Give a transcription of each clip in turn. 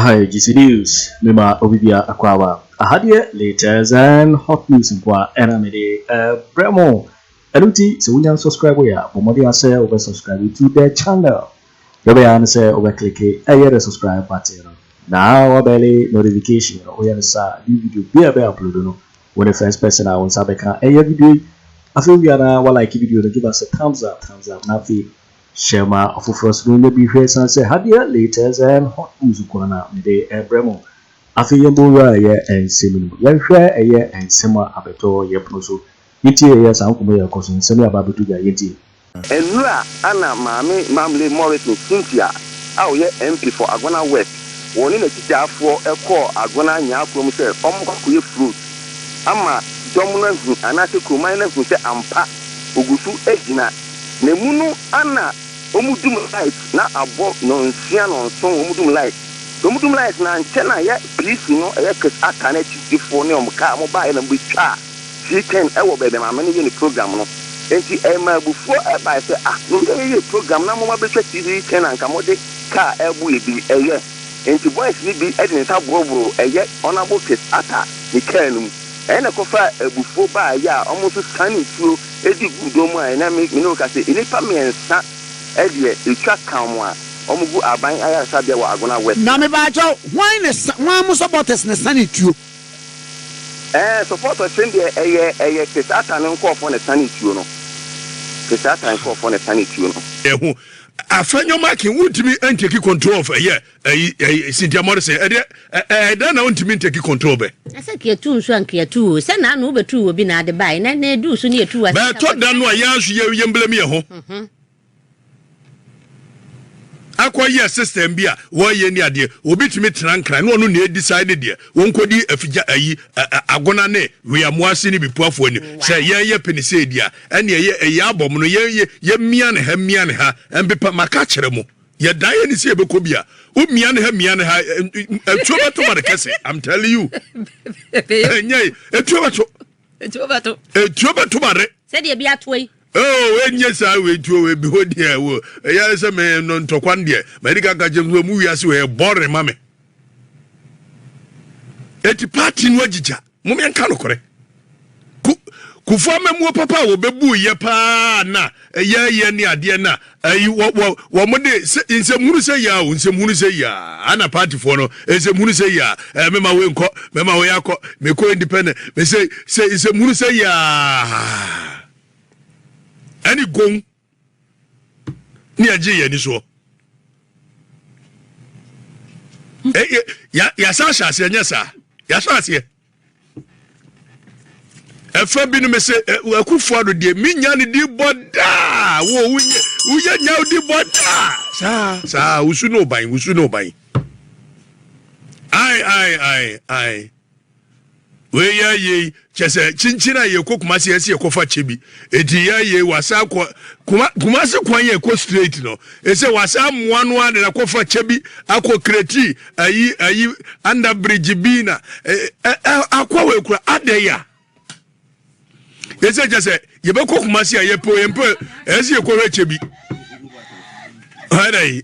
Hi, GC News. Mema Obibia Akwawa. Ahadiye latest and hot news nkwa ɛna mede ɛbrɛ mo. Ɛno nti sɛ wonya nsɔskraibo yɛ a, bɔ mmɔden ara sɛ wobɛ sɔskraibe to the channel. Deɛ wobɛyɛ ara ne sɛ wobɛ kleke ɛyɛ the subscribe button no na wabɛle notification no. Woyɛ no saa a, new video biara a yɛbɛ upload no, wo ne first person a wo nsa bɛka ɛyɛ video yi. Afei wowia no ara, wa like video no, give us a thumbs up, thumbs up, na afei share ma afoforɔ nso na wɔnya bi hwɛ ɛsiane sɛ ha deɛ latest and hot news nko ara na mede ɛbrɛ mo. Afei yɛmmɔ nwura ɛyɛ nsɛm no mu. Yɛnhwɛ ɛyɛ nsɛm a abɛtɔ yɛn pono so Yetie yɛɛ saa nkɔmmɔ yi a ɛkɔ so nsɛm yi a Bible to dwa yetie. Nnura Anna Maame Mamle Morrison Cynthia a ɔyɛ MP for Agona West, wɔ ne n'akyitaafoɔ kɔɔ Agona Nyaa kurom sɛ wɔnkɔ kɔyɛ fruit ama dɔm no ahu anaasɛ kuroman no ahu sɛ ampa ɔgu so gyina na mu no ana wɔn dum light na abɔ nɔnsia nɔnson wɔn dum light sɛ wɔn dum light na ankyɛ na yɛ piisi no ɛyɛ kɛse aka no akyitifoɔ ne wɔn kaa wɔn baeɛ na wɔbɛtwaa He can wɔ baabi a maame no yɛ ne program no nti ɛmaa abufuo bae sɛ ah meyɛ yɛyɛ program na moma bɛtwa TV he can anka mode car ɛbo yɛ bi ɛyɛ nti boys no bi de ne nsa boroboro ɛyɛ Honourable Kis Ata ne car no mu ɛyɛ na ɛkɔfaa abufuo baa ɛyɛ a ɔmo nso sane nsuo ɛdi guu dɔn mu a ɛnɛ me ne wo ka sɛ nnipa mmiɛnsa ɛdeɛ ɛtwa ka ɔmo a ɔmo gu Aban Ayaresabea wɔ Agona West. Na mebaakyɛw hwan na hwan mo supporters na sane tuo. Ɛɛ support ɔkyere deɛ ɛyɛ ɛyɛ te satan no nkorɔfoɔ na ɛsane tuo no te satan nkorɔfoɔ na ɛsane tuo no. Ɛho afɛ nyɔma akin wontumi nteki control of ɛyɛ ɛyi ɛyi Cynthia Morrison ɛdeɛ ɛɛ dɛn na wontumi nteki control bɛ. Asɛ kiatu nso anki atu o sɛ naa no wobɛtu wɔ bi naa de bae nɛ na edu so ne yɛtu wɔ asɛ. Bɛɛtɔ da no a yɛn nso yɛ yɛn blame yɛn ho. akɔyɛ system bi a wɔyɛ ni adeɛ obi tumi tena nkran ne ɔno nea decide deɛ wɔn kɔdi afigya ayi agona ne weamoase ne bipuafoɔ anim sɛ yɛn yɛ pene sɛ edi a ɛne ɛyɛ ɛyɛ abɔm no yɛn yɛ yɛ mia ne ha mia ne ha mpepa maka kyerɛ mo yɛ dan yɛ ne sɛ yɛbɛkɔ bi a wo mia ne ha mia ne ha ɛtuo bɛto ma de kɛse I'm telling you ɛnyɛ ɛtuo bɛto ɛtuo bɛto ma de sɛdeɛ bi atoa yi Oh enye saa wei nti o ebi hɔ deɛ wo ɛyɛ sɛ me no ntɔkwa no deɛ madi ka nka kyɛm sɛ mu wiase wɔ yɛ bɔre ma me eti party no agyigya mo me nka nokorɛ ku kufoɔ amamuo papa a wɔbɛbu yɛ paa na ɛyɛ yɛ ne adeɛ na ayi wɔ wɔ wɔn de sɛ nsɛmhunu sɛ yia o nsɛmhunu sɛ yia ana paatifoɔ no nsɛmhunu sɛ yia ɛɛ mɛma wo nkɔ mɛma wo yɛ akɔ mɛkɔ independent mɛsɛ sɛ nsɛmhunu sɛ yia ɛne gong ne ɛgye yɛn ani soɔ ɛyɛ yasa ahyɛ aseɛ nyɛ saa yasa aseɛ. ɛfa bi no me sɛ akufo ado deɛ menya ne di bɔ daa wo woyɛ woyɛ nya wo di bɔ daa saa saa wusu ne ɔban wusu ne ɔban ai ai ai ai weyɛ yei kyɛ sɛ kyinkyin a yɛkɔ kuma se ɛsɛ yɛkɔfa kyɛ bi ɛti yɛ yei wasa kɔ kuma se kwan yɛ kɔ straight no ɛsɛ wasa mmoa no a na kɔfa kyɛ bi akɔ kreti ayi ayi anda bridge bi na akɔ wɔ ekura adɛ ya ɛsɛ kyɛ sɛ yɛbɛkɔ kuma se a yɛpɛ yɛmpɛ ɛsɛ yɛkɔ hwɛ kyɛ bi ɛdɛ yi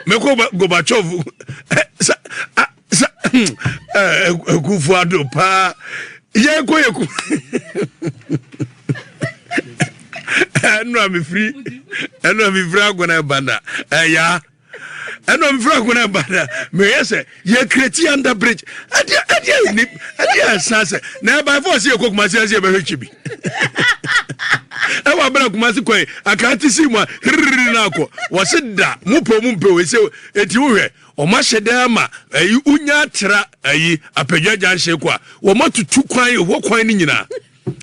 mɛkɔ Gorbachev sɛ sɛ ɛkufu ado paa yɛkɔ yɛ ku ɛnu a mefiri ɛnu a mefiri agona ɛbanda ɛyaa. ɛnɔ mfra ko na ɛba na meyɛ sɛ yɛ kreti under bridge ɛdeɛ ɛdeɛ yɛ ni ɛdeɛ ɛsan sɛ na ɛba fɔ ɔsi yɛ kɔ kumasi ɛsi yɛ bɛhwɛ kyi bi ɛwɔ abɛrɛ kumasi kɔ yi akara ti si mu a hiriri na akɔ wɔsi da mu pɛ mu mpɛ wɔsi eti wohwɛ wɔn ahyɛ dɛ ama ɛyi unya atra ɛyi apɛdwa gyanhyɛ kɔ a wɔn atutu kwan ɛwɔ kwan ne nyinaa.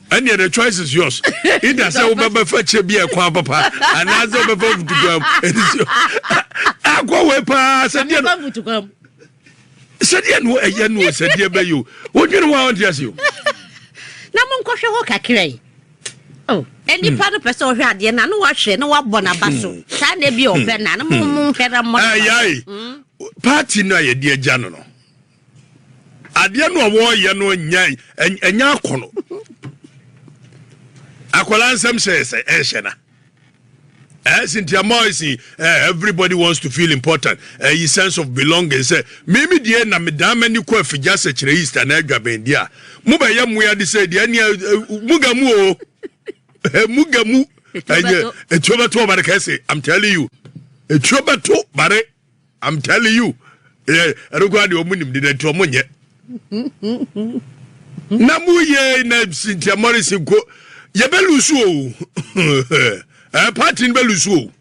ɛnneɛ the choice is yours either sɛ wobɛbɛ fa kyɛ bi a ɛkwan papa anaasɛ wobɛfa mfutukwam akɔ wei paa sɛdeɛ no sɛdeɛ no ɛyɛ no sɛdeɛ bɛyɛ o wodwene ho a wonte ase o na monkɔhwɛ hɔ kakra yi oh, nipa no pɛ sɛ ɔhwɛ adeɛ no na wahwɛ na wabɔ n'aba so hmm. saa na ebi ɔpɛ na no mo mo nhwɛ na mmɔ n'aba so. Hmm. party no a yɛde agya no no adeɛ no a wɔreyɛ no nyɛ ɛnyɛ akɔnɔ akwadaa nsɛm hyɛ sɛ ɛnhyɛ na ɛsi nti ama ɛsi eh, everybody wants to feel important ɛyi eh, sense of belonging sɛ mímí deɛ na medan m'ani kɔ afigya sɛ kyerɛ east anaa adwabɛn deɛ a mo bɛ yɛ mmoa de sɛ deɛ ɛnia eh, mo ga mu o mo ga mu ɛnyɛ etuo bɛto ɔbare kɛse i'm telling you etuo bɛto bare. I'm telling you. Eh, ɛno koraa deɛ ɔmo nim de nti ɔmo nyɛ. Na mo yɛ na Cynthia Morrison ko yɛ bɛ lusu o. Eh, party no bɛ lusu o.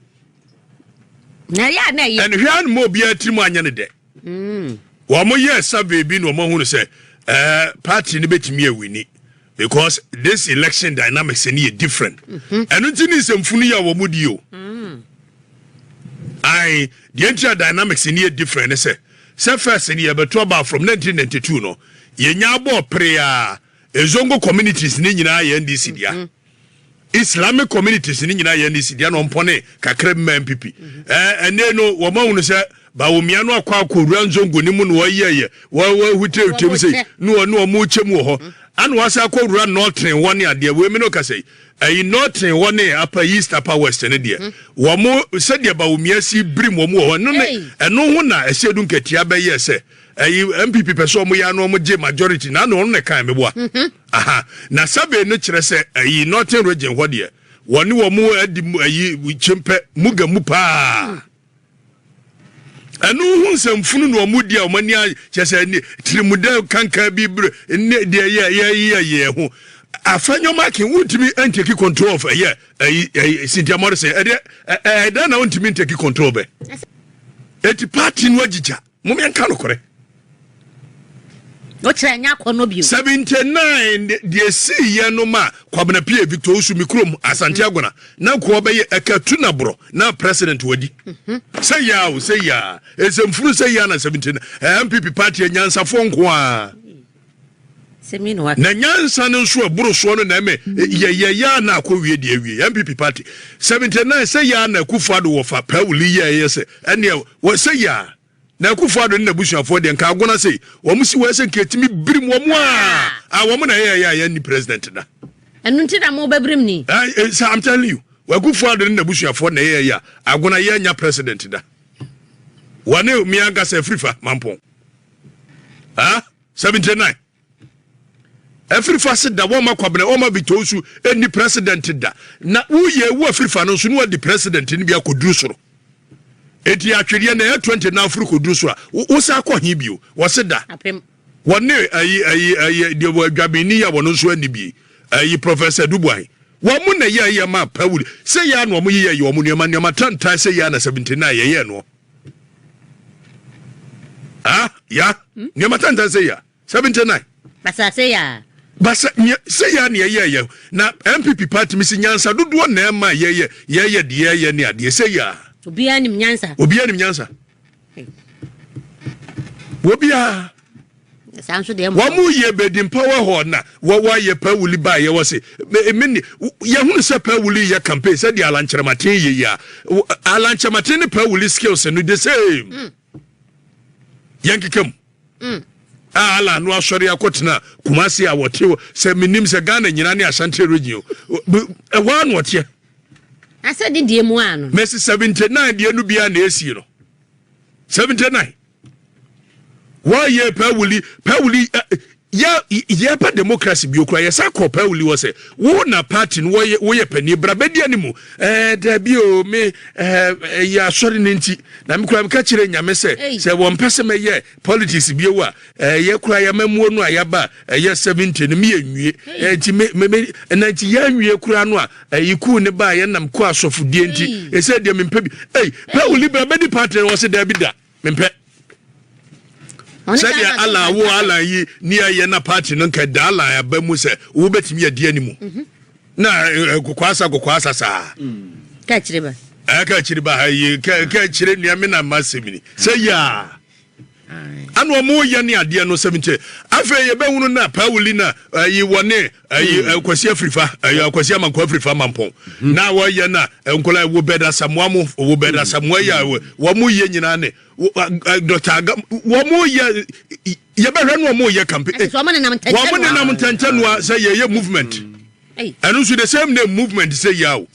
Na yɛ a na yɛ. Ɛnhwɛ a mo obiara tirim anyɛ ne dɛ. Mm. Wɔn yɛ survey bi na wɔn ahunu sɛ ɛɛ eh, party no betumi awini. because this election dynamics ɛni yɛ different ɛnu ti ni nsɛmfunu yi a wɔn mu di o mm. ayi deɛ nti a dynamics ɛni yɛ different ne sɛ sɛ first ni yɛbɛto aba from 1992 no yɛnya abɔ pere a ezongo communities ne nyinaa yɛ ndc dea. Mm -hmm. Islamic communities ne nyinaa yɛ NEC deɛ na ɔmpɔne kakra bi ma MPP. Ɛnɛ no wɔn ahunu sɛ Bawumia no akɔ akɔwura nzongo ne mu na wɔyɛyɛ wɔahutirehutirem sei ne wɔn ne wɔn rekyɛ mu wɔ hɔ ana wɔasan akɔwura Northern hɔ ne adeɛ wei me no kasa yi ɛyi Northern hɔ ne apa East apa West ne deɛ wɔn sɛdeɛ Bawumia si birim wɔn wɔ hɔ ɛno ne ɛno ho na ɛsɛ du nkatia bɛyɛ sɛ ɛyi npp pɛ sɛ ɔmo yɛ ano ɔmo gye majority na na ɔno na ɛkan meboa mhm. aha na survey no kyerɛ sɛ ɛyi northern region hɔ deɛ wɔne wɔn adi ɛyi kyempɛ muga mu paa ɛno ho nsɛmfunu na wɔn di a wɔn ani akyɛ sɛ ne tirimudɛ kankan bi bere ne deɛ yɛ yɛ yɛ yɛ ho afɛ nyɔma kin wuntumi ntaki control of ɛyɛ ɛyi ɛyi sintiamɔri sɛ ɛdeɛ ɛɛdɛ na wuntumi ntaki control bɛ eti paati no agyigya. Mom yɛn ka nokorɛ. O kyerɛ nyɛ akɔ no bio. Seventy nine deɛ sii yɛ no ma Kwabena Pie Victor Osu mi kurom Asante mm. Agona na nkoa bɛyɛ ɛka tu na borɔ na president wadi. Mhm. Sɛ yɛ a o sɛ yɛ a nsɛmfuru sɛ yɛ a na seventy nine MPP party anyansafoɔ nkoa. Na nyansa no nso ɛboro soɔ no na ɛmɛ yɛyɛ yɛ a na akɔ wie deɛ awie NPP party 79 sɛ yɛ a na Akufo Addo wɔ fa paa wuli yɛ ɛyɛ sɛ ɛneɛ wɔ sɛ yɛ a na Akufo Addo ne n'abusuafoɔ deɛ nka agona sɛ wɔn si wɔ ɛsɛ nka ɛtumi birim wɔn a a wɔn na ɛyɛ ɛyɛ a yɛn ni president da ɛno nti na mo bɛbirim ni sɛ I'm telling you Akufo Addo ne n'abusuafoɔ na ɛyɛ ɛyɛ a agona yɛ nya president da wɔne mmea nkasa afiri fa mampɔn. ah seventy nine afirifa se da wɔma kwabena wɔma bitɔn su ɛni president da na woyɛ ewu afirifa no nso no adi president no bi akɔduru soro ɛti atwedeɛ na ɛyɛ twenty na afiri kɔduru so a wosa akɔ he bio wɔse da wɔne ayi ayi ayi deɛ wɔ adwameni yɛ wɔn nso ani bi ayi professor dubuahe wɔn mo na yɛ yɛ ma pawuli sɛ yɛ ano wɔn yɛ yɛ wɔn nneɛma nneɛma tantan sɛ yɛ ana seventy nine yɛ yɛ noɔ. Ah, ya. Hmm? Nneɛma tantan sɛ ya. 79. Basa sɛ ya. Basa nyɛ sɛ ya ne ɛyɛ yɛ. Na MPP party mi si nyansa dodoɔ na ɛma yɛyɛ yɛyɛ deɛ yɛyɛ ne adeɛ sɛ ya. Obiara nim nyansa. Obiara nim nyansa. Obiara. wɔn mu yie bɛdi mpa wɔ hɔ na wɔayɛ pawuli ba yɛ wɔ se mene yɛhunu sɛ pawuli yɛ campaign sɛ deɛ alankyerɛmaten yɛ yi a alankyerɛmaten ne pawuli skills no the same mm. yɛn keka mu mm. a ala no asɔre akɔtena kumase a wɔte hɔ sɛ menim sɛ ghana nyina ne asante region ɛhɔ a na ɔteɛ asɛ dedeɛ mu a no mɛsi 79 deɛ no bia na ɛsie no 79 wɔyɛ pawuli pawuli yɛ yɛpɛ democracy bi okura yɛsa kɔ pawuli wɔ sɛ wo na party no wɔyɛ wɔyɛ panyin bra bɛdi anim ɛɛ dabi o me ɛɛ ɛyɛ asɔre ne nti na me kura me ka kyerɛ nyame sɛ sɛ wɔn pɛ sɛ mɛyɛ politics bi ewu a ɛyɛ kura yɛ mɛmuo no a yaba ɛyɛ seventy no mi yɛ nwie ɛɛ nti me me me ɛna nti yɛ nwie kura no a ɛyi kuu ne ba yɛ nam kɔ asɔfodie nti ɛsɛ deɛ me mpɛ bi ɛyi pawuli bra bɛdi party no wɔ sɛ dabi da. Mempɛ. Sɛdeɛ Alan wo Alan yi ne ɛyɛ na party no nka da Alan aba mu sɛ wobɛtumi adi ani mu mhm. na eh, eh, kokwaasa kokwaasa saa mm. ka akyire ba eh, ka akyire ba ha yi ka akyire nua me na ma sɛm ni sɛ yɛa ana ɔmo yɛ ne adeɛ no sɛm nkyɛ afei yɛbɛhunu na pauli na ayi wɔne ɛyi hmm. kwasi afirifa ɛyɛ kwasi amanko afirifa mampɔn hmm. na wɔyɛ na nkɔla wo bɛ da samoa mo wo bɛ da samoa yɛ hmm. wɔn mo yɛ nyinaa ne dɔkta aga wɔn mo yɛ yɛbɛhwɛ no wɔn mo yɛ kampe wɔn mo nenam ntɛntɛn noa sɛ yɛyɛ movement ɛno nso the same name movement sɛ yia o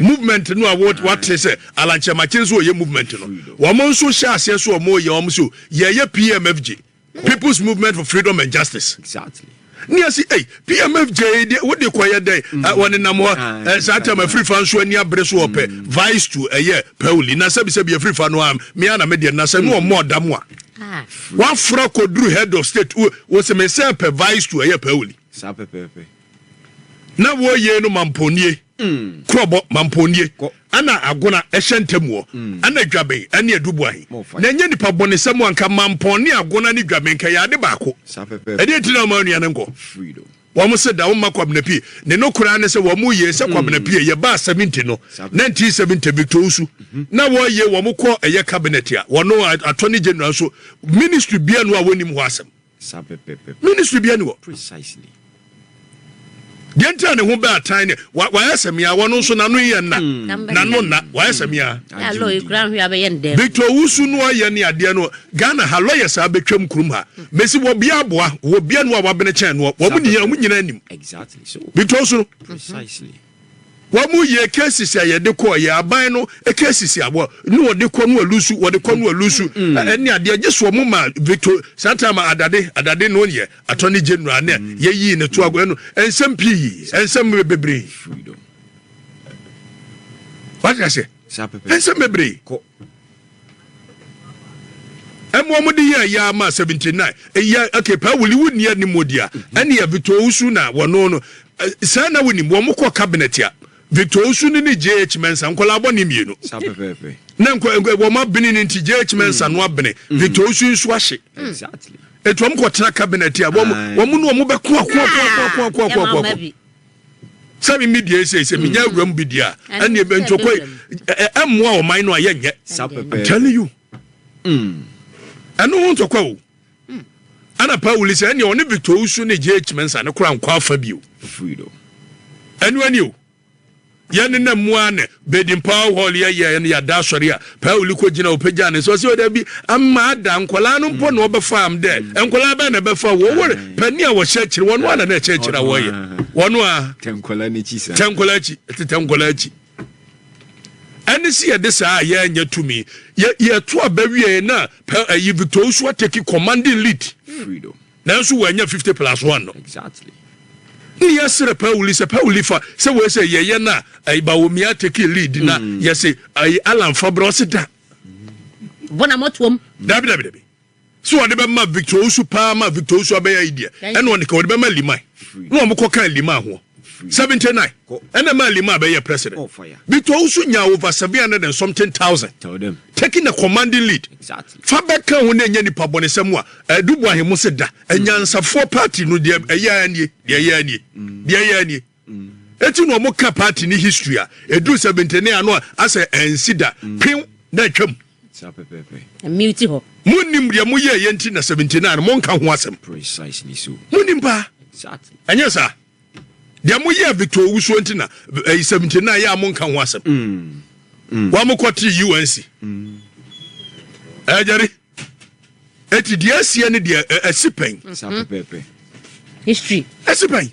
movement no a wate sɛ alankyɛmakye nso wɔyɛ movement no wɔn nso hyɛ aseɛ so wɔn yɛ wɔn so yɛyɛ pmfg. people's movement for freedom and justice. Exactly. ní ɛsi ɛy pmf jɛ de wo de kɔ yɛ dɛ wɔn nenam hɔ ɛ saa tɛm afiri fa nso ani abere so ɔpɛ mm. vice to ɛyɛ pɛwuli na sɛbisɛbi afiri fa no am mia na mi deɛ na sɛ no wɔn mɔ ɔdam a ah. wafra koduru head of state wo wɔsɛmɛ sɛ pɛ vice to ɛyɛ pɛwuli. saa pɛpɛpɛ. na wɔyɛ no mamponie. Kurɔbɔ, mampɔnnie, ɛna agona, ɛhyɛ ntamuɔ, ɛna dwaben, ɛne aduboahe, na ɛnyɛ nnipa bɔnesɛm o, anka mampɔn ne agona ne dwaben nka yɛ ade baako. Ɛdeɛ nti na woma onua no nkɔ? Wɔn se, Da wo mma Kwabena pie. Ne nokorɛ ara ne sɛ wɔn yee sɛ Kwabena pie yɛ baa 70 no, 1970, Victor Owusu na wɔyee wɔn kɔɔ ɛyɛ cabinet a wɔn attorney general nso, ministry biara nni hɔ a wɔnnim hɔ asɛm. Ministry bia ni hɔ. Precisely. Deɛ nti a ne ho bɛ atan ne wayɛ sɛ mea wɔn nso n'ano yɛ nna hmm. n'ano nna wayɛ sɛ mea. Hmm. Victor Owusu no ayɛ ne adeɛ no Ghana ha lɔyɛ saa bɛtwam kurom ha hmm. mesi wɔ bia aboa wɔ bia no a wabene kyɛn no wɔn nyinaa wɔn nyinaa nim Victor Owusu no. Precisely. Wɔn yɛ cases a yɛde kɔ yɛ aban no cases a wɔ ne wɔde kɔ no wɔ lusu wɔde kɔ no wɔ lusu ɛne adeɛ gye so wɔn ma Victor saa time a adade adade no yɛ attorney general ne yɛyii ne to ago ɛno nsɛm pii nsɛm bebree wate aseɛ nsɛm bebree. Ɛma wɔn de yɛɛ ya ma seventy nine. Eya okay paa wuli wo nni anim wɔ dia. Mm-hmm. Ɛne yɛ Victor Owusu na wɔn no no. Sɛ na wonim wɔn kɔ cabinet a Victor Owusu ne ne JH Mensa nkɔla abɔ ne mmienu. Saa pɛpɛɛpɛ. Na nkɔ nkɔ wɔn abene ne nti JH Mensa no abene mm-hmm. Victor Owusu nso ahye. Mm. Exactly. Etu wɔn kɔ tena cabinet a wɔn wɔn no wɔn bɛ ko ako ako ako ako ako ako. sɛ me media yi sei sɛ menya mm. awuram bi deɛ a ɛne ntokɔ ɛmmoa ɔman no a yɛnyɛ I'm telling you mm. ɛno ho ntokɔ o mm. ɛna pa wuli sɛ ɛneɛ ɔne victor usu ne gye akyima nsa ne kora nkɔ afa bio ɛno ani o yɛne na mmoa ne Baden Powell Hall yɛ yɛɛ no yɛada asɔre a Powell kɔ gyina ɔpagyaa ne nsa ɔsɛ ɔda bi ama ada nkwadaa no mpo na ɔbɛfa m dɛ nkwadaa bɛn na ɛbɛfa wɔn wɔre panin a wɔhyɛ akyire wɔn a na na ɛkyɛ akyire a wɔyɛ wɔn a tɛ nkwadaa n'akyi saa tɛ nkwadaa akyi tetɛ nkwadaa akyi ɛne si yɛde saa a yɛnyɛ tumi yɛ yɛto aba wie na pɛ ɛyi Victor Osu ateki commanding lead freedom Nanso wannya fifty plus one no. Exactly. Ne yɛ srɛ pawuli sɛ pawuli fa sɛ wei sɛ yɛyɛ na ayi bawomia teki lead na mm. yɛ se ayi alan fa brɛ ɔse da bɔ na mɔtoam dabi dabi dabi so ɔde bɛma victor osu paa ma victor osu abɛyɛ ayi deɛ ɛna ɔne ka ɔde bɛma liman na wɔn kɔ kan liman ho Seventy nine ɛna ɛmaa Lima bɛyɛ president. Oh, Bito nso nyaa over seven hundred and something thousand. Taking a commanding lead. Fa bɛka ho na ɛnyɛ nipa bɔnesɛm a ɛdubu eh, ahemmo se da. Anyansafoɔ mm. party no deɛ ɛyɛ anie, deɛ ɛyɛ anie, mm. deɛ ɛyɛ anie. Mm. Eti na wɔn ka party ne history a edu seventy nine ano a asɛ ɛnsi da. Pew na atwam. Saa pɛpɛɛpɛ. Mute hɔ. Monnim deɛ moyɛeɛ nti na 79 no monka ho asɛm? Precisely so. Monnim paa. Exactly. Ɛnyɛ saa? Deɛ moyɛɛ Victor Owusuo nti na ɛyi 79 yɛ a monka ho asɛm? Wɔn a mokɔtee UNC. Ɛɛ Jerry. Eti deɛ asie ne deɛ ɛsi pɛn. Saa pɛpɛɛpɛ. History. Ɛsi pɛn.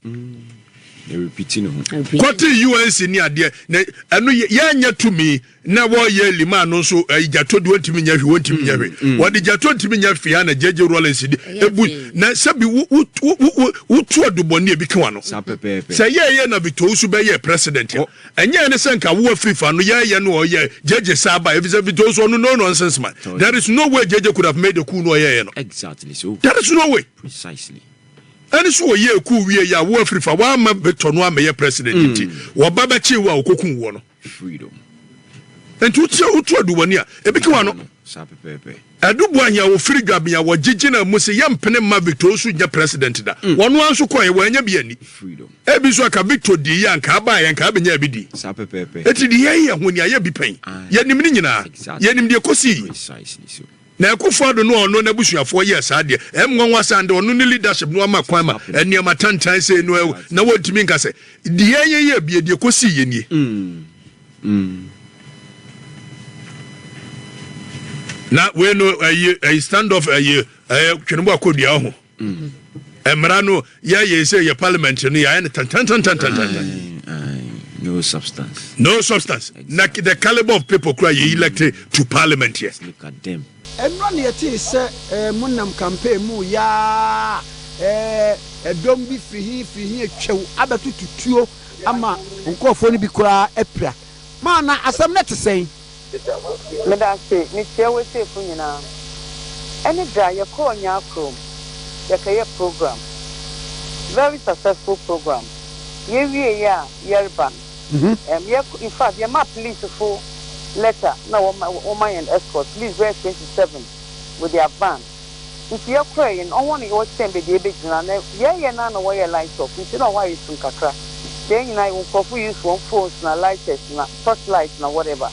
Ɛrepiti ne ho. Kɔte UNC ne adeɛ na ɛno yɛnyɛ tumi na wɔyɛ lima no nso ɛyi gyato deɛ ɔntumi nyɛ hwi ɔntumi nyɛ hwi wɔde gyato ntumi nyɛ fia na gyegye rollins de ebu na sɛbi wo wo wo wo tu adubɔni ebi kewa no. Saa pɛpɛɛpɛ. Sɛ yɛyɛ na bitɔw so bɛyɛ president a. Ɛnyɛ ɛne sɛ nka wo afif ano yɛɛyɛ no ɔyɛ gyegye saa ba efisɛ vitoso ɔno no nonsense man there is no way gyegye could have made a cool no ɔyɛɛyɛ no there is no way ɛne so ɔyɛɛ cool wie yɛ a wo afirif a w'ama vito no amɛyɛ president mm. nti wɔba bɛkyee wo a ɔkɔku woɔ no nti wotia wotu aduwani a ebi ka wa no Adu Buahia a wɔfiri Dwabea, wɔgye gyinaa mu se yɛmpene mma Victor Osu nyɛ president da. Wɔn ara nso kɔeɛ, wɔannya bi anni. Ebi nso anka Victor diiɛ, anka abaeɛ, anka abɛnyaa bi di. Enti deɛ yɛn yɛ ho nea yɛbi pɛn. Yɛnim ne nyinaa. Yɛnim deɛ ɛkɔsiiɛ. Na Akuffo Addo no a ɔno n'abusuafoɔ yɛɛ saa deɛ, ɛyɛ nwanwa saa de ɔno ne leadership no ama kwan ma nneɛma tantan sei no na wɔntumi nka sɛ deɛ yɛn yɛ bie, deɛ ɛkɔsiiɛ nie. na wei no ɛyi ɛyi stand off ɛyi ɛyɛ twene bɔ akɔ dua ho mmara no yɛyɛ sɛ yɛ parliament no yɛayɛ no tantantantantantan no substance no substance na the caliber of people kura yɛ elected to parliament yɛ Ɛno na yɛtee sɛ eh, mo nam campaign mu reyɛ ara eh, ɛdɔm bi firi he firi he atwam abɛtoto tuo ama nkurɔfoɔ no bi koraa apira. Maa na asɛm no te sɛn? Medase, mekyia w'atiefo nyinaa. Ɛne da a yɛkɔɔ Nyaa kurom yɛkɛyɛ program, very successful program, yɛwieeɛ a yɛreba no, Mhm. Ɛm yɛ kɔ infact yɛ ma police fo letter na wɔ ma wɔ ma yɛn escort police bɛyɛ twenty seven with their van nti yɛ kɔɛ yɛ no wɔn yɛ wɔ kyɛn bɛ deɛ bɛ gyina na yɛ yɛ na na wɔ yɛ light off nti na wɔ ayɛ sum kakra nti yɛ nyina yɛ nkorɔfo use wɔn phones na lighters na torch light na whatever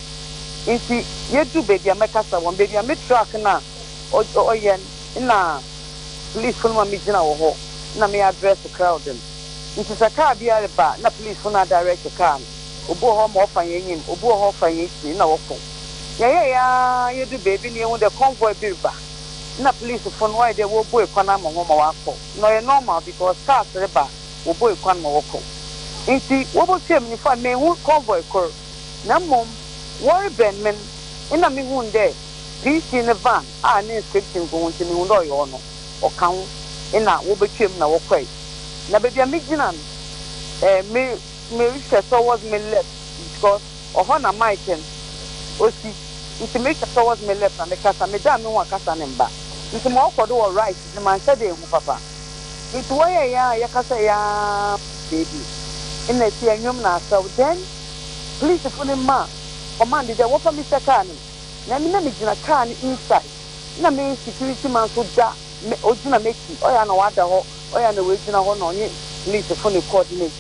nti yɛ du baabi a mɛ kasa wɔn baabi a me truck na ɔ ɔ yɛ nna police fo no ma me gyina wɔ hɔ nna me address crowd no. Ntsi sɛ kaar bi reba a nna polisfo no adirect kaar no, obi wɔ hɔ ma ɔfa hɛn enyim, obi wɔ hɔ ɔfa hɛn ekyir na wɔkɔ. Yɛyɛe ara yedur beebi na yehun dɛ convoy bi reba. Nna polisfo no wɔayɛ dɛ worobue kwan ama hɔn ma wɔakɔ. Nna ɔyɛ normal because cars reba a wobuei kwan ma wɔkɔ. Ntsi wobotuaa me nyimfa no, mennhu convoy kor na mbom wɔrebɛn me n' nna mehun dɛ PC ne van a ne inscription gu ho ntsi mehun dɛ ɔyɛ ɔno. ɔka ho na wobetwaam na wɔkɔe. Na baabi a migyina no, eh, me, merehwɛ towards me left because ɔhɔ na mic no osi. Nti mehwɛ towards me left na mekasa. Medan me ho a kasa no mba. Nti mɔɔkɔ do wɔ right dze mannhyɛ da ennhu papa. Nti wɔyɛe ara a yɛkasae ara fi beebi nna si anwom na asaw. Then polisifo no maa command dɛ wɔmfa me hyɛ kaar no mu. Na emi na migyina kaar no inside. na me security man nso da me ogyina m'akyi ɔyɛ a na wada hɔ ɔyɛ a na wagyina hɔ na ɔnye police fo ne coordinate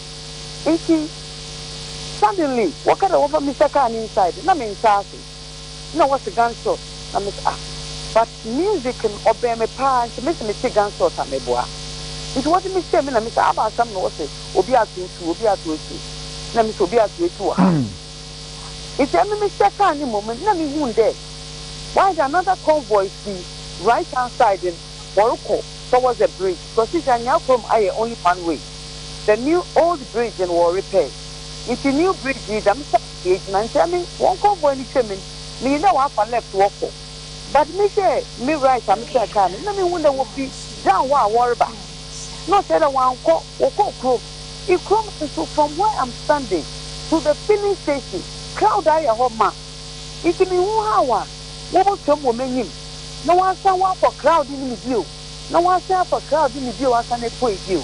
nti suddenly wɔka dɛ wɔfa Mister Carr ne inside na me nntse ase na wɔse gun shot na me se ah but music no ɔbɛn me paa nti me se metse gun shot a meboa nti wɔdze me hyɛɛ mu na me se aba asɛm na wɔse obi ato etu obi ato etu na me se obi ato etu wɔ ha. Etse emi mehyɛ kaar no mu no, nna mehun dɛ wɔayɛ another convoy fi right hand side no, wɔrokɔ towards the bridge because sisi Anyaa Kurom ayɛ only one way, the new old bridge no wɔrepair, ntsi new bridge yi dɛm side no yegyina, ntsi emi hɔn convoy no twa mu no, minyim dɛ wɔafa left wɔkɔ, but mehwɛ me right a mehyɛɛ kaar no, nna mehun dɛ wofi down hɔ a wɔreba, na ɔkyerɛ dɛ wɔannkɔ, wɔkɔɔ kurom. I kurom nso from where am standing to the filling station crowd ayɛ hɔ ma nti me hu how a wɔbɔ twam wɔ m'anyim na wɔasan wɔakɔ crowd no mu bio na wɔasan afa crowd no mu bio asan apue bio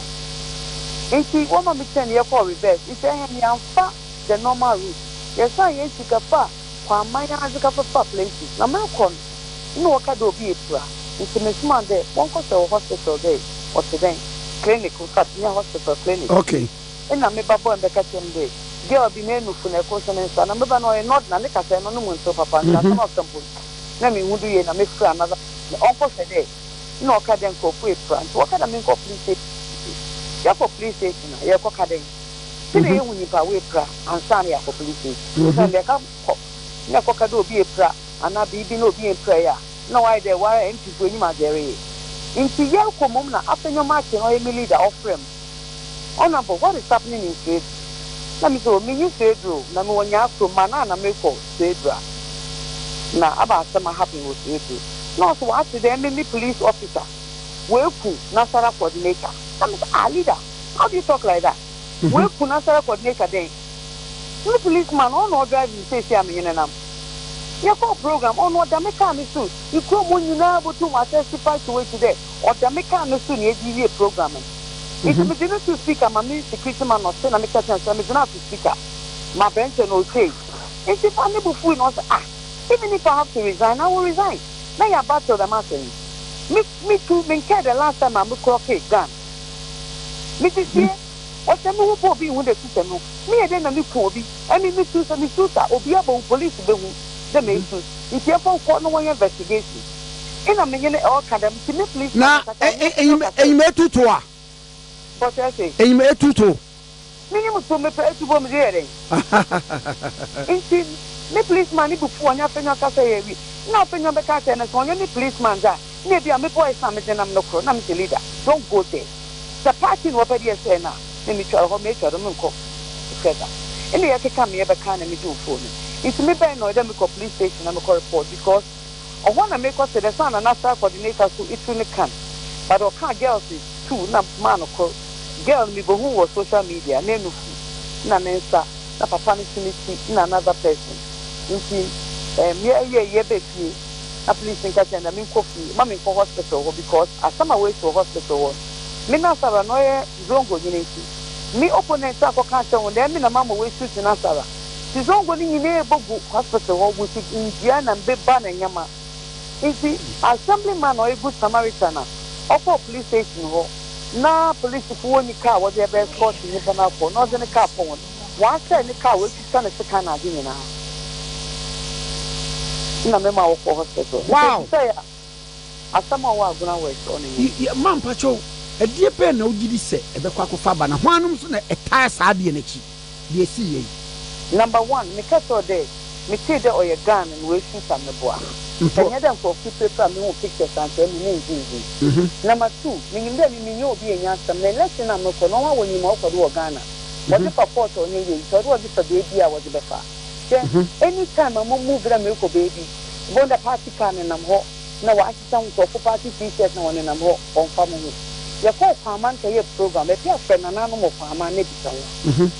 nti wɔma me turn yɛkɔɔ reverse nti ɛhɛn yɛanfa the normal route yɛsan yɛn sika faa Kɔ aman ara dze kɛfefa plenty na merokɔ no nna wɔka dɛ obi epira ntsi mesomaa no dɛ wɔnkɔhwɛ wɔ hospital dɛ ɔtse dɛn, clinic infact nnyɛ hospital, clinic bi. Nna me ba bɔ mbɛka kyerɛ me dɛ girl bi n'enufo na ɛkor so ne nsa na me ba no ɔyɛ nod na ne kasae no no mu nntsew papa ntsi asɛm a ɔkã mpo no nna mennhu do yie na mefrɛ another person ɔnkɔhwɛ dɛ nna ɔka dɛ nkorɔfo epira ntsi wɔka dɛ menkɔ police station ntsi yɛkɔ police station a yɛrokɔka dɛn? Sɛ na yehu nyimpa a oepira ansaana na yɛakɔ polisii, osiandɛ nda ka kɔ na ekɔka dɛ obi epira anaa biribi na obi emmpiraa yi a, nna ɔayɛ dɛ woara MP fo enyim adze ereyɛ. Ntsi yɛrokɔ mbom na Afenyo Martin a ɔyɛ me leader ɔfrɛ me, Honourable, what is happening in Suedru? Na mese, oh, minnyi Suedru o, na mowɔ Nyaa kurom, ma nna na mekɔ Suedru a na aba asɛm a happen wɔ Suedru. Na ɔse ɔatse dɛ emi me police officer, woeku Nasaraah coordinator. Na mese, ah, leader! How do you talk like that? Wei kun asare coordinator dɛn? Me police man ɔno na ɔdrive me seesei a menye no nam. Yɛkɔɔ program ɔno ɔda me car no so, ekurom hɔ nyinaa botum attest pa to it dɛ ɔda me car no so na yɛdze wie program no. Ntsi medze no too speaker ma me security man no ɔse na meka kyerɛ no sɛ medze no ato speaker ma bɛnkyɛ na otsie. Ntsi fa no bo fuui na ɔse ah even if I have to resign I will resign na yɛaba till dɛm asɛm yi. Me me too menkae the last time a me clocke gun. Mete sie, wɔhyɛ me ho bɔ obi ho dɛ su sɛ no, meyɛ dɛn na meku obi? Ɛne mesu, sɛ mesu sa obi a bohu police behu dɛ meesu, nti ɛmfa nkɔ na wɔnyɛ investigation. Nna me nyɛn ɛɔ ka dɛm, nti me police man ankasa ɔnye me nkyɛ ɔkasa o. But ɛse. Minyim so mepɛ etubɔ medze yɛ dɛn? Hahahahaha. Ntsi me policeman no bo fuuw ɔnye Afenyo akasa yɛɛ wi nna Afenyo bɛka akyerɛ no sɛ ɔnnyɛ me policeman dze a nna ebi a me boys a medze nam no kor na mese leader don't go there sɛ party na wɔpɛ dɛ yɛsɛɛ no a na metwa hɔ metwa do mennkɔ hwɛ da nna yɛkeka me yɛbɛkaa na megye wo phone no ntsi me bɛn na ɔyɛ dɛ mekɔ police station na mekɔ report because Ɔhɔ na mekɔ tse dɛ saana na star coordinator so etu no kan but ɔkaa girl se tu na maa no kor. Girl no mebohun wɔ social media n'enufu na ne nsa na papa no so ne tsir na another person ntsi ehm yɛ yɛ yɛ bɛ fie na please nka kyerɛ no dɛ menkɔ fie ma menkɔ hospital hɔ because asɛm a woesi wɔ hospital hɔ no me na Sarah na ɔyɛ Zongo nyina ntsi me opponent akɔka akyerɛ hɔn dɛ emi na mama woesutsen Sarah. Sisongo no nyina ebogu hospital hɔ wosig ndua na mbeba na nyɛma ntsi assembly man a oegu Samaritan na ɔkɔɔ police station hɔ na polisifo wonnyi kaar wɔdze aba escort nyimpa no akɔ na ɔdze ne kaar kɔ hɔn wɔasɛɛ ne kaar woetwitwa ne sekan na adze nyina na mema wɔkɔɔ hospital ntsi nsesɛe a asɛm a ɔwɔ Agona West ɔno nye no. Yɛ ma mpakyɛw, ɛdeɛ bɛn na wogye di sɛ ɛbɛkɔ akɔfa aba, na hwan nom nso na ɛtaa saa adeɛ no akyi? deɛ ɛsii yɛ yi. Number one, me kɛ sɛɔ dɛ me tee dɛ ɔyɛ Ghana na w'ɛsu sa me boa. Sɛ nyɛ dɛ nkorɔfo pirapira me hu pictures ankyɛ me ne nhu hu. Number two, me nyim dɛ me me nyɛ obi yɛ nya asɛm na election na me kɔ na ɔha wɔnyim ma ɔkɔ do wɔ Ghana. Wɔdze fa court a ɔnyɛ yie ntsi ɔdɛ ɔdze fa beebi a wɔdze bɛfa. Hwɛ, any time a mo move dɛ merekɔ beebi, bɔn dɛ party car nenam hɔ na w'ahy. sɛ nkurɔfo ba gye T-shirt na wɔnenam hɔ, wɔmfa mo ho. Yɛkɔ Ɔkwaaman kɛyɛɛ program, baabi a frɛ nananom Ɔkwaaman na bisa wɔn.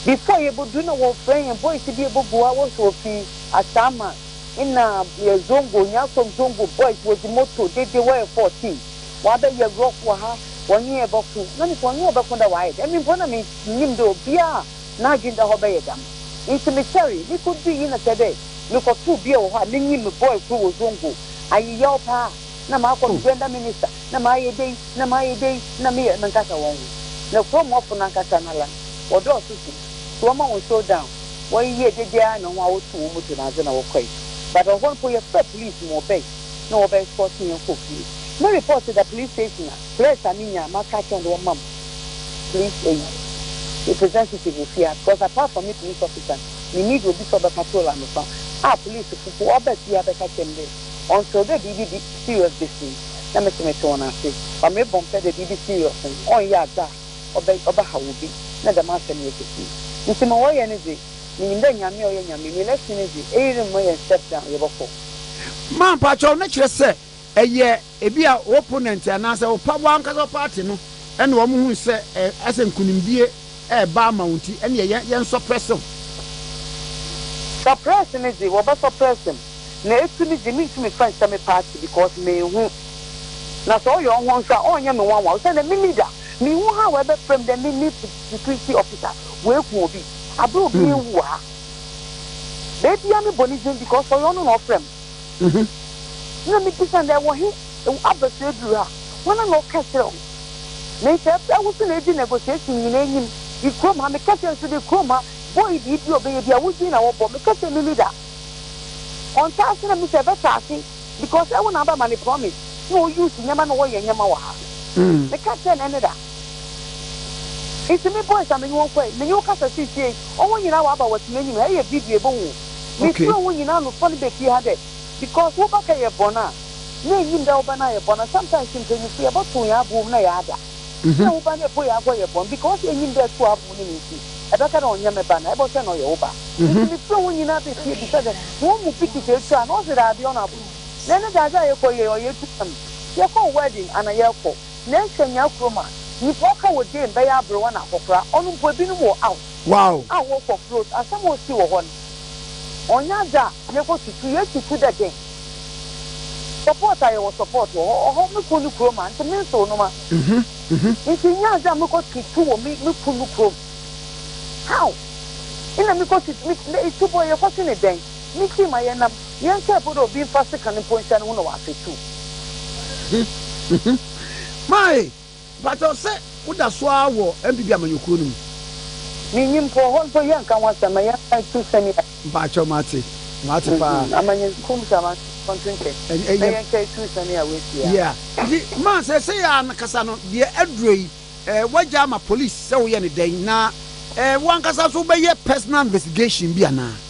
Before yɛbɛduru na wɔfrɛ yɛn boys bi a ɛbɔ Goa hɔ sɛ wɔfiri Asaama, nna yɛ Zongo, Nyarsom Zongo boys, wɔdi moto dede, wɔyɛ 14, wɔabɛyɛ rough wɔ ha, wɔne yɛn bɛko. Na me sɛ wɔne wo bɛko dɛ, why? Ɛmi mpo na mennim dɛ obiara a. n'adwen da hɔ bɛyɛ dam. Ntsi mekyɛree, mikodui na kyerɛ dɛ mekɔtoo bea wɔ hɔ a menye me bɔe kor wɔ Zongo. Ayeyaw paa, nna makɔ do dɛnda minista, nna mayɛ dei, nna mayɛ dei, nna meyɛ menkasa hɔn ho. Na kurow mɔfo nankasa no alan, wɔdɔɔ so dze so wɔma hɔn show down, wɔyeyɛɛ dede ara na hɔn a wɔtoo hɔn moto na adze na wɔkɔe. But ɔhɔ no mpo yɛfrɛɛ police ma wɔbae na wɔbɛ escorte hɛn kɔɔ fie. Me report da police station a, threats a minya a maka akyerɛ hɔn dɛ wɔmma m'. police eyi representative wɔ fie a because apart from me police officer me need obi sɛ ɔbɛpatrol anopa a police fo po ɔba fie a bɛka kyerɛ me dɛ until dɛ biribi bi serious besi na me se metse wɔn ase but mebɔ mpɛ dɛ biribi serious no ɔnyɛ adze a ɔbɛ ɔbɛhaw obi na dɛm asɛm yi ekesi ntsi ma wɔyɛ no dze minyim dɛ Nyame a ɔyɛ Nyame no election no dze eyi remmɔ yɛn step down yɛbɔkɔ. Maa mpakyɛw no kyerɛ sɛ ɛyɛ. Ebia wo opponent anaasɛ wo pɛ, w'ankasa wo party no na wɔhu sɛ asɛ nkunimdie reba ama wo nti ɛneɛ yɛn yɛn suppress wo. Suppress ne gye, wɔbɛ suppress me, na etu ne gye, mentumi fa nhyɛ me party because menhu. Na sɛ ɔyɛ ɔho nso a, ɔnyɛ me nwanwa osiandɛ me leader, menhu how ɛbɛfrɛ me dɛ me ne security officer wɔaku obi, aberɛ obi rewu wɔ ha. Baabiara mebɔ ne din because ɔyɛ ɔno na ɔfrɛ me. Mhm. Na mibisa dɛ, Wɔ he? Ew aba so edur ha, woana na ɔkã kyerɛ wo? Me nsa ebra wo so na edzi negotiation nyina enyim. I kurom ha, mekã kyerɛ so dɛ kurom ha bɔe biribi a ɔbɛyɛ bi a, wo dzin na wɔbɔ. Mekã kyerɛ me leader. Ɔnntse ase na mese ɛbɛtse ase because ew na abɛma no promise na o use nyɛma na wɔyɛ nyɛma wɔ ha. Mm. Mekã kyerɛ no ɛne da. Ntsi me boys a menye hɔn kɔe, menye wo kasa sisiei, hɔn nyina wɔaba wɔtse m'enyim ha, eyɛ video ebohu hɔn. Mesrɛ hom nyina anofa no befie ha dɛ because wo ba kɛyɛ bɔn a na ennyim dɛ wo ba no ayɛ bɔn a sometimes mpanyimfo yɛbɔtow hɛn abow mu na yɛada dɛ wo ba no epo yɛakɔyɛ bɔn because ennyim dɛ tow abow no mu ntsi ɛbɛka dɛ ɔnnyɛ me ba na ebɔhwɛ no ɔyɛ wo ba ntsi mesrɛ hom nyina befie bisa dɛ hɔn mu bi kisa etu a na ɔse daabi ɔno abow na ndɛ dza adze a yɛkɔ yɛ ɔyɛ etu kwan yɛkɔɔ wedding ana yɛkɔ na ehwɛ nyia kurom a nyimpa ɔka wɔ dame bɛyɛ aberewa na akɔkora ɔno mpo binom wɔ out. Wow! A wo kɔ close asɛm a osi wɔ hɔ no ɔnyɛ adze a yɛkɔ tutu yɛ tutu dɛ dɛn support a yɛwɔ support wɔ hɔ ɔhɔ me kun no kurom a ntsi me nsew no ma ntsi nnyɛ adze a mekɔ tutu wɔ me me kun no kurom how nna mekɔ tutu me dɛ etubɔ yɛkɔ twe ne dɛn me tsii ma yɛnam yɛnkae mpo dɛ obi mfa sekan mpo nhyɛ no ho na ɔafetuw. Mae Mpakyɛw sɛ wo da so ara wɔ MPP amanyɔkuo no mu? Me nnim mpo, hɔ mpo yɛ nka ho asɛm, ma yɛ nfa ntu sɛnea. Mpakyɛw mate, mate paa. Amanyɔkuo mu sɛ amanfoɔ nto nkyɛ, na yɛ nka ɛtu sɛnea w'asi a. Yeah, nti ma seesei ara no kasa no, deɛ aduro yi, eh, w'agya ama police sɛ wo yɛ no dɛn, na eh, wo ankasa nso wo bɛ yɛ personal investigation bi anaa?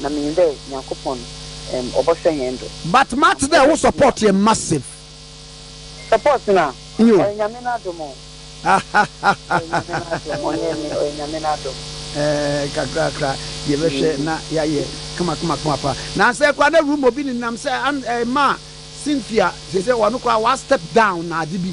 na minyim dɛ Nyankopɔn ɔbɔhwɛ hɛn do. But mate dɛ wo support yɛ massive. Support no a, ɔyɛ Nyame n'adom o. Ɔyɛ Nyame n'adom, ɔnnyɛ emi, ɔyɛ Nyame n'adom. Ɛɛ, kakrakra, yɛbɛhwɛ na yɛayɛ kamakamakama paa. Na sɛ koraa na room mu obi nenam sɛ an ɛɛ ma Cynthia, kyerɛ sɛ ɔno koraa wa step down na ade bi.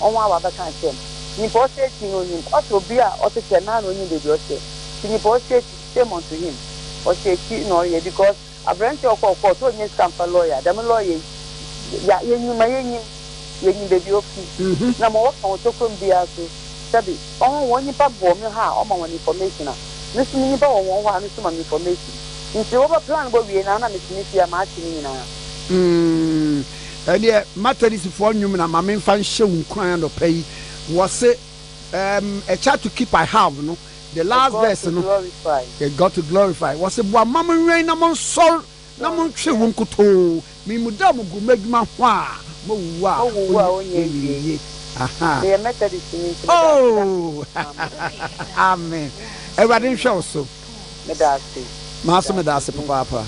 ɔho a ɔabɛkã akyerɛ no. Nyimpa a ɔhyɛ ekyir no onyim, ɔse obi a ɔtse sɛ noara na onyim beebi a ɔhyɛ. Ntsi nyimpa a ɔhyɛ ekyir, shame unto him. Ɔhyɛ ekyir na ɔreyɛ because aberantsɛ yi ɔkɔr court onnya sika mmfa lɔɔya, dɛm lɔɔya yi ya yenyim ma yenyim, yenyim beebi a ofi na ma ɔkã wo tokuro mu biara so, sɛbi ɔho hɔn nyimpa bɔɔ me hɔ a ɔma hɔn information a, me so me nyimpa wɔ hɔn hɔ a no so ma me information. Ntsi wɔbɛ plan bɔ wie no a nna metse me fie a matse ne nyinara. Ɛndeɛ Matadisifoɔ nnwom na ma me nfa nhyɛ wo nkuran anɔpa yi, wɔse ehm a child to keep I have no, the last verse no, a God to glorify, wɔse boa ma mo nwɛn na mo nsɔr na mo ntwe wo nkotoo, me mu da mo gu mo adwuma ho a, mo wuwu a ɔnyɛ nwieɛ, ahaa, oh, amen, Awurade nhwɛ wo so. meda ase. Maso meda ase papaapa.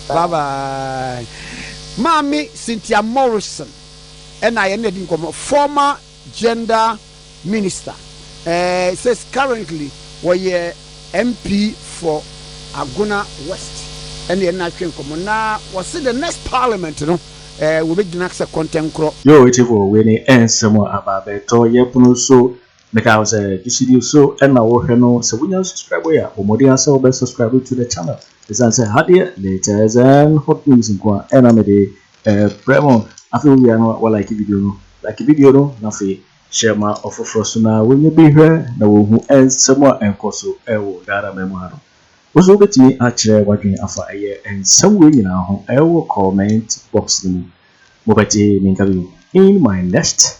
Bye bye. Maame Cynthia Morrison ɛna yɛne adi nkɔmmɔ. Former gender minister. Eh, says currently wɔyɛ MP for Agona West. Ɛne yɛne no atwe nkɔmmɔ. Na wɔse the next parliament no eh, wɔbɛgyina sɛ kɔntɛnkorɔ. Yoo Tifo wei ne ɛnsɛm a aba abɛtɔ yɛpono so Meka wo sɛ gyesidi so na wo hwɛ no sɛ wonya nsubscribe yɛ a bɔ mmɔden ara sɛ wobɛ subscribe to the channel ɛsiane sɛ ha deɛ latest and hot news nko a ɛna mede ɛbrɛ mo afei wo wia no wa like video no like video no na afei hyɛ ma ɔfoforɔ so na wɔnyɛ bi hwɛ na wɔhu ɛnsɛm a ɛnkɔ so ɛwɔ Ghana man mu ha no wo so wobɛtumi akyerɛ wadwene afa ɛyɛ ɛnsɛm wei nyinaa ho ɛwɔ comment box no mu mobɛte me nka bio in my next